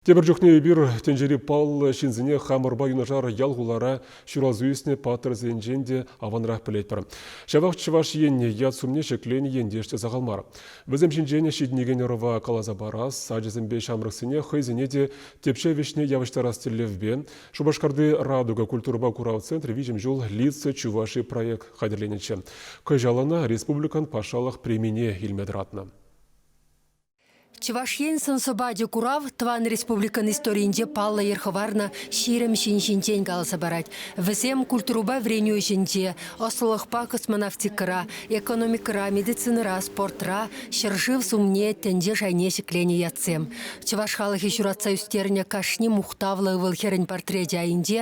Тепӗр чухне эпир тӗнчери паллӑ ҫынсене хамӑрпа юнашар ял-хулара ҫуралса ӳснӗ паттӑрсенчен те аванрах пӗлетпӗр. Ҫавах Чӑваш Енне ят-сумне ҫӗкленӗ ентеш те сахал мар. Вӗсем ҫинчен ҫитӗнекен ӑрӑва каласа парас, ачасемпе ҫамрӑксене хӑйсене те тӗпчев ӗҫне явӑҫтарас тӗллевпе Шупашкарти Радуга культурӑпа курав центрӗ виҫӗм ҫул Лица Чувашии проект хатӗрленӗччӗ. Кӑҫал ӑна республикӑн патшалӑх премине илме тӑратнӑ. Чӑваш Ен сӑн-сӑпачӗ курав тӑван республикӑн историйӗнче паллӑ йӗр хӑварнӑ ҫирӗм ҫын ҫинчен каласа парать. Вӗсем культурӑпа вӗренӳ ӗҫӗнче, ӑслӑлӑхпа космонавтикӑра, экономикӑра, медицинӑра, спортра, ҫӗршыв сумне, тӗнче шайне ҫӗкленӗ ятсем. Чӑваш халӑхӗ ҫуратса ӳстернӗ кашни мухтавлӑ ывӑл-хӗрӗн портречӗ айӗнче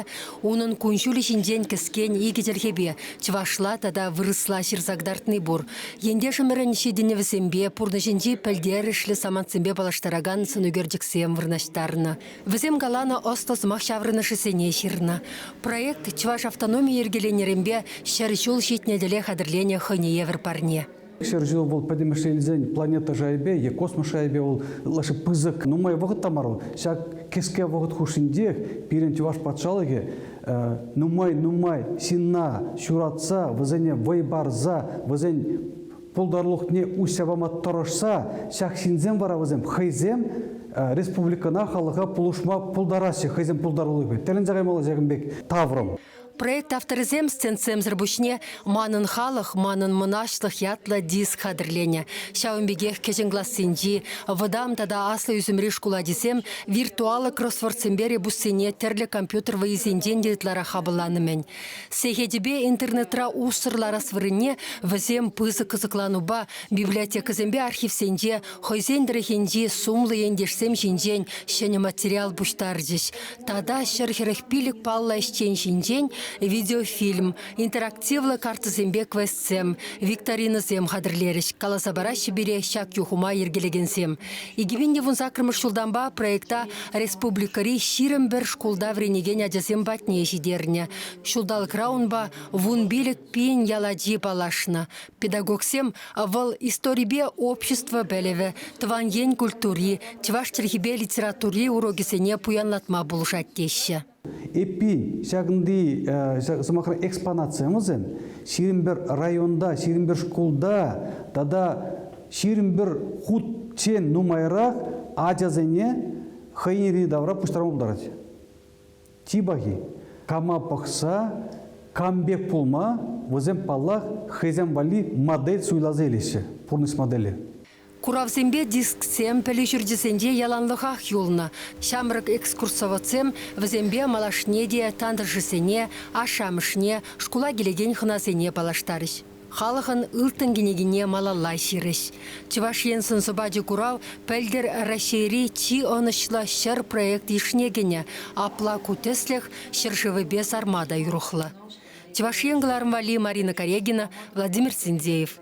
унӑн кун-ҫулӗ ҫинчен кӗскен икӗ чӗлхепе чӑвашла тата вырӑсла ҫырса кӑтартни пур. Ентешӗмӗрӗн ҫитӗнӗвӗсемпе, пурнӑҫӗнчи пӗлтерӗшлӗ самантсемпе паллаштаракан сӑнӳкерчӗксем вырнаҫтарнӑ. Вӗсем каланӑ ӑслӑ сӑмах ҫаврӑнӑшӗсене ҫырнӑ. Проект чӑваш автономи йӗркеленӗренпе ҫӗр ҫул ҫитнӗ тӗле хатӗрленӗ хӑйне евӗр парне. Ҫӗр ҫул вӑл пӗтӗмӗшле илсен планета шайӗпе е космос шайӗпе вӑл ытлашши пысӑк нумай вӑхӑт та мар вӑл. Ҫак кӗске вӑхӑт хушшинчех пирӗн чӑваш патшалӑхӗ нумай-нумай ҫынна ҫуратса, вӗсене вӑй парса, вӗсен пултарулӑхне уҫса пама тӑрӑшса, ҫак ҫынсем вара вӗсем хӑйсем республикӑна, халӑха пулӑшма пултараҫҫӗ хӑйсен пултарулӑхӗ. Тӗлӗнсе каймалла ҫакӑн пек таврӑм. Проект авторӗсем стендсемсӗр пуҫне Манӑн халӑх, манӑн мӑнаҫлӑх ятлӑ диск хатӗрленӗ. Ҫавӑн пекех кӗҫӗн классенчи, вӑтам тата аслӑ ӳсӗмри шкул ачисем виртуаллӑ кроссвордсемпе ребуссене тӗрлӗ компьютер вӑйисенчен те ытларах хапӑлланӑ-мӗн. Сехетӗпе интернетра уссӑр ларас вырӑнне вӗсем пысӑк кӑсӑкланупа библиотекӑсемпе архивсенче хӑйсен тӑрӑхӗнчи сумлӑ ентешсем ҫинчен ҫӗнӗ материал пуҫтарчӗҫ. Тата ҫӗр хӗрӗх пилӗк паллӑ ӗҫчен ҫинчен видеофильм, Интерактивлӑ картӑсемпе квестсем, викторинӑсем хатӗрлерӗҫ, каласа параҫҫӗ пире ҫак юхӑма йӗркелекенсем. 2000 саккӑрмӗш ҫултанпа проекта республикӑри ҫирӗм пӗр шкулта вӗренекен ачасем патне ҫитернӗ. Ҫулталӑкра унпа вун пилӗк пин ял ачи паллашнӑ. Педагогсем вӑл историпе общество пӗлӗвӗ, тӑван ен культури, чӑваш чӗлхипе литератури урокӗсене пуянлатма пулӑшать теҫҫӗ. Эппин, ҫакӑнти сӑмахра экспонация мӑсем ҫирӗм пӗр районта, ҫирӗм пӗр шкулта тата ҫирӗм пӗр хутчен нумайрах ачасене хӑйӗн йӗри-тавра пуҫтарма пултарать. Чи пахи, кама пӑхса, кам пек пулма вӗсем, паллах, хӑйсем валли модель суйласа илеҫҫӗ, пурнӑҫ модели. Куравсемпе дисксем пӗлӳ ҫурчӗсенче яланлӑхах юлнӑ. Ҫамрӑк экскурсоводсем вӗсемпе малашне те тантӑшӗсене, ашшӗ-амӑшне, шкула килекен хӑнасене паллаштарӗҫ. Халӑхӑн ылтӑн кӗнекине малалла ҫырӗҫ. Чӑваш Ен сӑн-сӑпачӗ курав пӗлтӗр Раҫҫейри чи ӑнӑҫлӑ ҫӗр проект йышне кӗнӗ. Апла ку тӗслӗх ҫӗршывӗпе сарма та юрӑхлӑ. Чӑваш Ен кӑларӑм валли Марина Карегина, Владимир Синдеев.